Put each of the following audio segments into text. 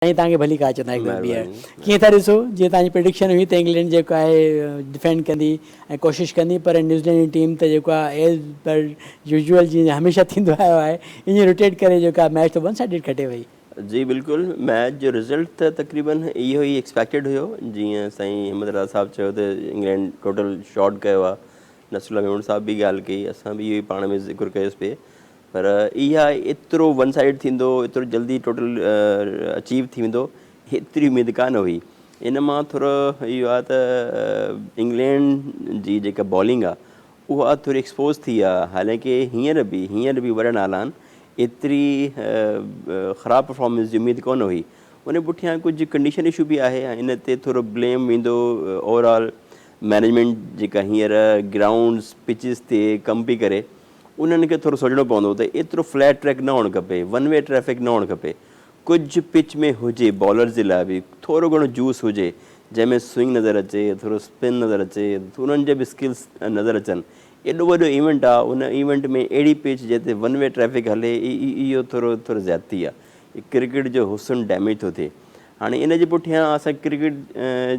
سائين توهان کي ڀلي ڪا چوندا هڪ دفعو ٻيهر ڪيئن ٿا ڏسو جيئن توهان جي پريڊڪشن هئي ته انگلينڊ جيڪو آهي ڊفينڊ ڪندي ۽ ڪوشش ڪندي پر نيوزيلينڊ جي ٽيم ته جيڪو آهي ايز پر يوزيول جيئن هميشه ٿيندو آيو آهي ائين روٽيٽ ڪري جيڪو آهي ميچ ته ون سائيڊڊ کٽي وئي. جي بلڪل ميچ جو رزلٽ ته تقريبن اهو ئي ايڪسپيڪٽيڊ هيو جيئن سائين احمد رضا صاحب چيو ته انگلينڊ ٽوٽل شارٽ ڪيو آهي نصرالله ميمڻ صاحب به ڳالهه ڪئي اسان به اهو ئي پاڻ ۾ ذڪر ڪيوسي پئي پر اها ايترو ون سائيڊ ٿيندو، ايترو جلدي ٽوٽل اچيو ٿي ويندو ايتري اميد ڪانه هئي. ان مان ٿورو اهو آهي ته انگلينڊ جي جيڪا بالنگ آهي اها ٿوري ايڪسپوز ٿي آهي حالانڪه هينئر به هينئر به وڏا نالا آهن ايتري خراب پرفارمنس جي اميد ڪونه هئي. ان پٺيان ڪجهه ڪنڊيشن اشو به آهي ۽ ان تي ٿورو بليم ويندو اوور آل مئنيجمينٽ جيڪا هينئر گرائونڊز پچز تي ڪم پئي ڪري انهن کي ٿورو سوچڻو پوندو ته ايترو فليٽ ٽريڪ نه هئڻ کپي، ون وي ٽريفڪ نه هئڻ کپي، ڪجهه پچ ۾ هجي، بالرز جي لاء به ٿورو گهڻو جوس هجي، جنهن ۾ سوئنگ نظر اچي، ٿورو اسپن نظر اچي، انهن جا به اسڪلز نظر اچن، ايڏو وڏو ايونٽ آ، ان ايونٽ ۾ اهڙي پچ جنهن تي ون وي ٽريفڪ هلي، اهو ٿورو ٿورو زيادتي آ، ڪرڪيٽ جو حسن ڊيميج ٿو ٿئي، هاڻي ان جي پٺيان اسان ڪرڪيٽ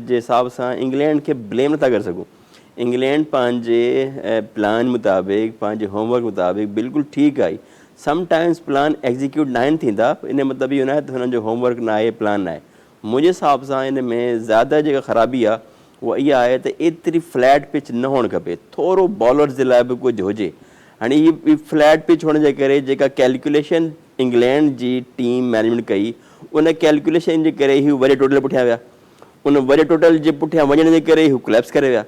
جي حساب سان انگلينڊ کي بليم نٿا ڪري سگهون. انگلينڊ پنهنجي پلان مطابق پنهنجي هوم ورڪ مطابق بلڪل ٺيڪ آهي سم ٽائمز پلان ايگزيڪيوٽ ناهن ٿيندا ان جو مطلب اهو ناهي ته هنن جو هوم ورڪ ناهي پلان ناهي منهنجي حساب سان ان ۾ زياده جيڪا خرابي آهي اها اها آهي ته ايتري فليٽ پچ نه هئڻ کپي ٿورو بالرز جي لاء به ڪجهه هجي هاڻي هي فليٽ پچ هئڻ جي ڪري جيڪا ڪيلڪوليشن انگلينڊ جي ٽيم مينيجمينٽ ڪئي ان ڪيلڪوليشن جي ڪري هي وري ٽوٽل پٺيان ويا ان وڏي ٽوٽل جي پٺيان وڃڻ جي ڪري هو ڪليپس ڪري ويا.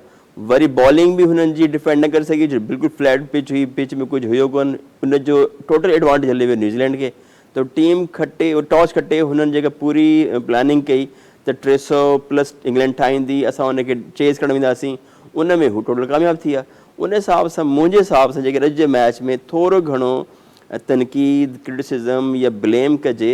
وري بالنگ به هنن جي ڊفينڊ نه ڪري سگهي جو بلڪل فليٽ پچ هئي، پچ ۾ ڪجهه هيو ڪونه، ان جو ٽوٽل ايڊوانٽيج هلي ويو نيوزيلينڊ کي ته ٽيم کٽي ٽاس کٽي هنن جيڪا پوري پلاننگ ڪئي ته ٽي سؤ پلس انگلينڊ ٺاهيندي اسان ان کي چيز ڪرڻ وينداسين ان ۾ هو ٽوٽل ڪامياب ٿي ويا ان حساب سان منهنجي حساب سان جيڪڏهن اڄ جي ميچ ۾ ٿورو گهڻو تنقيد ڪرٽيسزم يا بليم ڪجي